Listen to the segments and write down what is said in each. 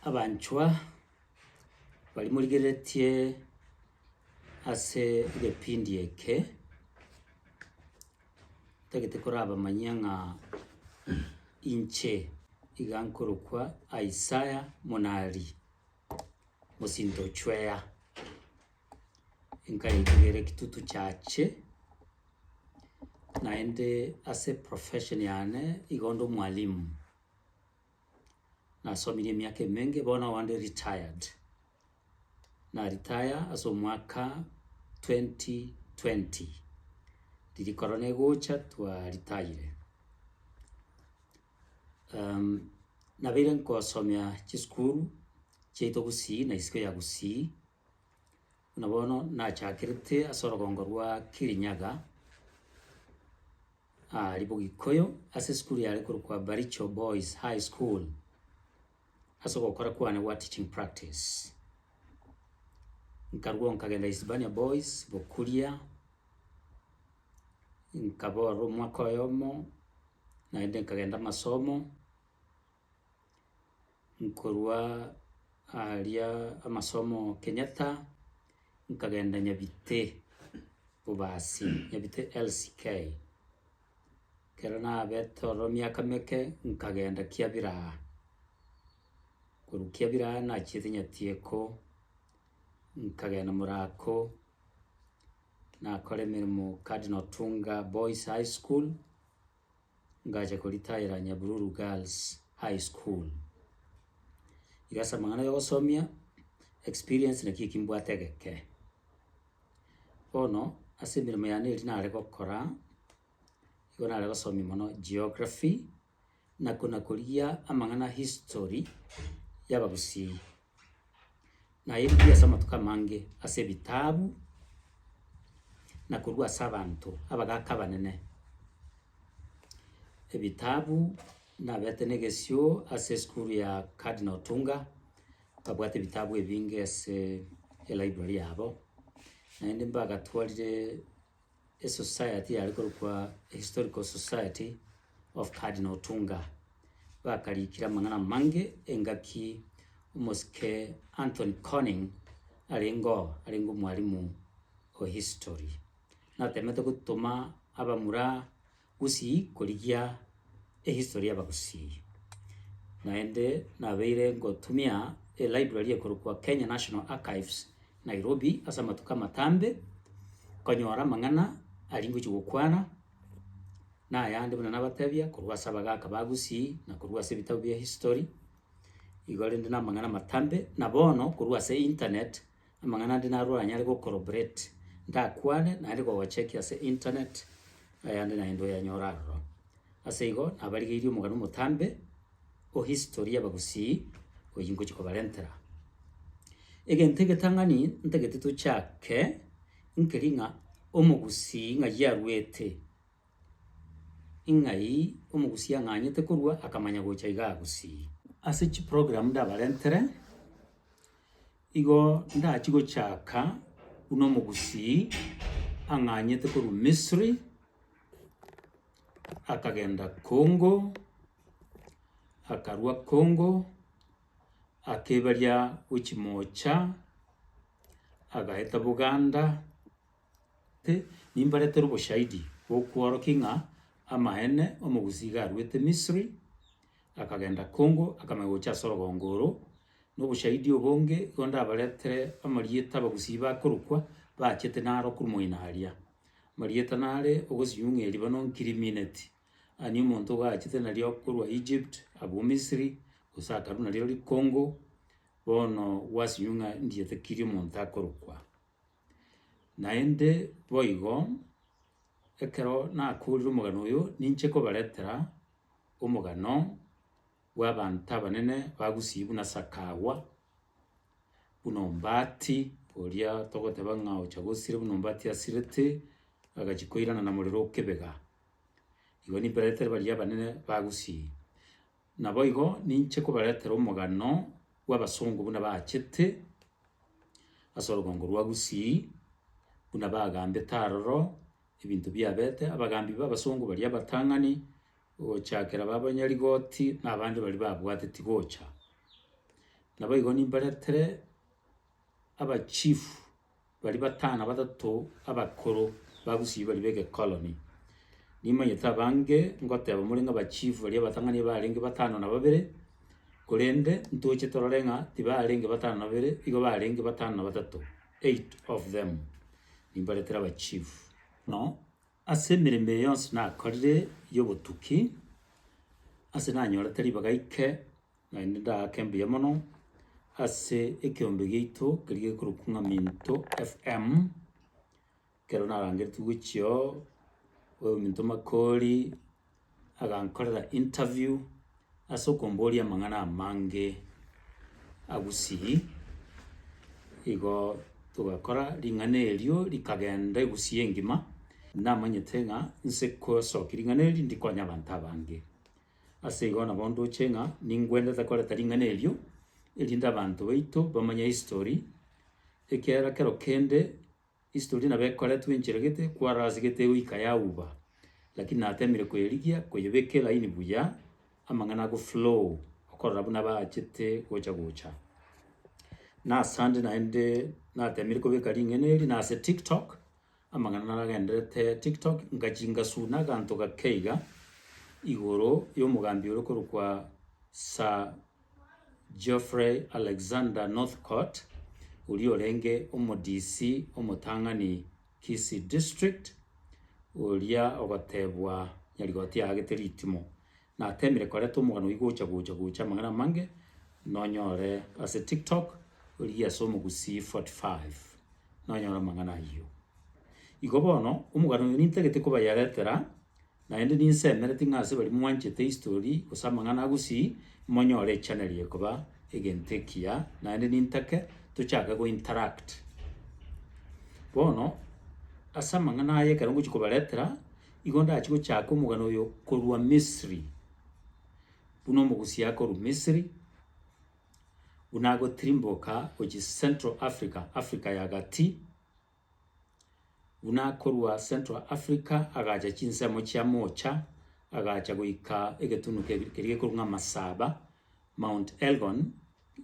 Abanchwa, baria morigereretie ase egepindi eke, ntagete korabamanyia ng'a inche iga nkorokwa Isaya Monari, mosinto o Chwea, nkayetigera ekitutu chiache, naende ase eprofession yane igo nde omwalimu. Nasomirie emiaka emenge bono onde retired. Na retire ase omwaka twenty twenty. Riria corona egocha twa retired. Nabeire nkosomia chisukuru chiaito Gusii na isiko ya Gusii. Buna bono nachakerete ase orogongo rwa Kirinyaga, aaria Bogikoyo, ase esukuru yare korokwa Baricho Boys High School, ase ogokora kwane gwa teaching practice. Nkarwao nkagenda Hispania Boys Bokuria, nkaba ororo omwaka oyomo, naende nkagenda amasomo. nkorwa aria amasomo Kenyatta, nkagenda Nyabite bobasi, Nyabite LCK. Ekero nabete ororo emiaka meke, nkagenda Kiabira aa, korwa Kiabira aa nachiete Nyatieko, nkagenda Morako, nakora emeremo Cardinal Otunga Boys High School. ngacha koritaera Nyabiruru Girls High School. Iga ase amang'ana ya ogosomia, experience naki eki mbwate egeke. Bono, ase emeremo yane eria nare gokora, nigo nare gosomia mono geography, na kona korigia amang'ana history y'Abagusii. naeirigwe ase amatuko amange ase ebitabu, na korwa ase abanto abagaaka abanene. Ebitabu naberete na egesio ase esukuru ya Cardinal Otunga, babwate ebitabu ebinge ase elibrary yabo, naende mbagatwarire. Esociety yare korokwa A Historical Society of Cardinal Tunga bakariikire amang'ana amange engaki omosike Anthony Conning arenge oo arenge omwarimu o history. Natemete gotoma abamura Gusii korigia ehistory y'Abagusii, naende nabeire ngotumia elibrary ekorokwa Kenya National Archives, Nairobi, ase amatuko amatambe, konyora amang'ana aria ngochia gokwana, na ayande buna nabatebia korwa ase abagaka ba Gusii, na korwa ase ebitabu bia history, igo rende na amang'ana amatambe, na bono korwa ase internet. Amang'ana ande narure anyare gocorroborate, ndakwane naende kogochecki ase internet, ayande naende oyanyore aroro. Ase igo nabarigeirie omogani omotambe o history y'abagusii oyio ngochia kobarentera. Egento egetang'ani ntagete tochake, nkeri ng'a omogusii ng'ai aruete, ing'ai omogusii ang'anyete korua akamanya gocha iga agusii. Ase chiprogram ndabarentere. Igo ndachie gochaka buna omogusii ang'anyete korwa Misiri, akagenda Congo, akarwa Congo, akebaria gochia moocha, agaeta Buganda, te, nimbaretere oboshahidi bokworokia ng'a amaene omogusii iga arwete Misiri, akagenda Congo, akamanya gocha ase orogongo oro, Noboshahidi obonge igo ndabaretere amarieta abagusii bakorokwa bachete naro korwa moina aria. Amarieta nare, ogosinyung'ia eribano nkirimineti, ani omonto ogachete nario korwa Egypt abwo Misiri, gose akarwa nario rikongo, bono gwasinyung'a ndiete kiri omonto akorokwa. Naende boigo, ekero nakoorire omogano oyo, ninche kobaretera omogano. bw'abanto abanene bagusiigwe buna sakagwa, buna ombati oria togoteba ng'a ocha gosira buna ombati asirete, agachia koirana na morero o kebega. Igo nimbaretere baria abanene bagusiigwe. Naboigo ninche kobaretera omogano bw'abasongo buna baachete ase orogongo rwa Gusii, buna bagambete aroro ebinto biabete, abagambi b'abasongo baria abatang'ani. gochakera b'abanyarigoti na abande baria babwateti gocha. Naboigo nimbaretere abachifu baria batano na batato abakoro ba Gusii baria b'egekoroni. Nimanyete abange ngoteba more ng'a abachifu baria abatang'ani nibarenge batano na babere, korende ntoche torore ng'a tibarenge batano na babere, igo barenge batano na batato, eight of them, nimbaretere abachifu. Ase emeremo eye yonsi nakorire y'obotuki, ase nanyorete ribaga ike, naende ndaake mbuya mono ase ekeombe giaito keria gekorokwa ng'a Minto FM, ekero narangeretigwe gochia oo, Minto Makori. agankorera interview ase okomboria amang'ana amange a Gusii, igo togakora ring'ana erio rikagenda Egusii engima, namanyete ng'a nse kosokia ring'ana eri ndi konya abanto abange. Ase igo nabo ndoche ng'a ningwendete koreta ring'ana erio, erinde abanto baito bamanye history, ekiagera kero kende Isitori nabo ekoretwe enchera gete kwarase gete goika yauba lakini natemire koyerigia koyebeka elaini buya amang'ana ago flow okorora buna baachete gocha gocha. Nasande naende natemire kobeka ring'ana eri nase tiktok amang'ana naragenderete tiktok ngachia ngasuna aganto gake iga igoro yomogambi ore okorokwa Sir. Geoffrey Alexander Northcott, oria orenge omodisi omotang'ani Kisii District, oria ogotebwa nyarigoti yaagete ritimo, natemire koreta omogano oyio gocha gocha gocha amang'ana amange nonyore ase TikTok rigia ase omogusii 45 nonyore amang'ana ayio. Igo bono omogano oyo nintagete kobayeretera. Naende ninsemeretie ng'a ase baria mwanchete histori gose amang'ana a gusii, monyore echaneli eye koba egento ekiya, naende nintake tochake gointeract. Bono, ase amang'ana aya ekero ngochia kobaretera, igo ndachie gochaka omogano oyo korwa Misiri, buna omogusia akorwa Misiri, buna agotirimboka gochia Central Africa, Africa ya Gati. Buna akorwa Central Africa agacha chinsemo chia moocha, agacha goika egetunu kebi- keria gekorwa ng'a Masaba, Mount Elgon,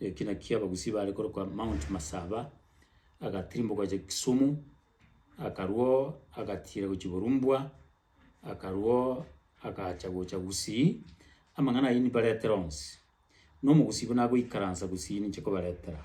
eki nakio Abagusii bare korokwa Mount Masaba, agatirimboka gocha Kisumu, akarwa oo agatiira gochia Borumbwa, akarwa oo agacha gocha Gusii, amang'ana ayio nibaretera onsi. Na Omogusii buna agoikaransa Gusii ninche kobaretera.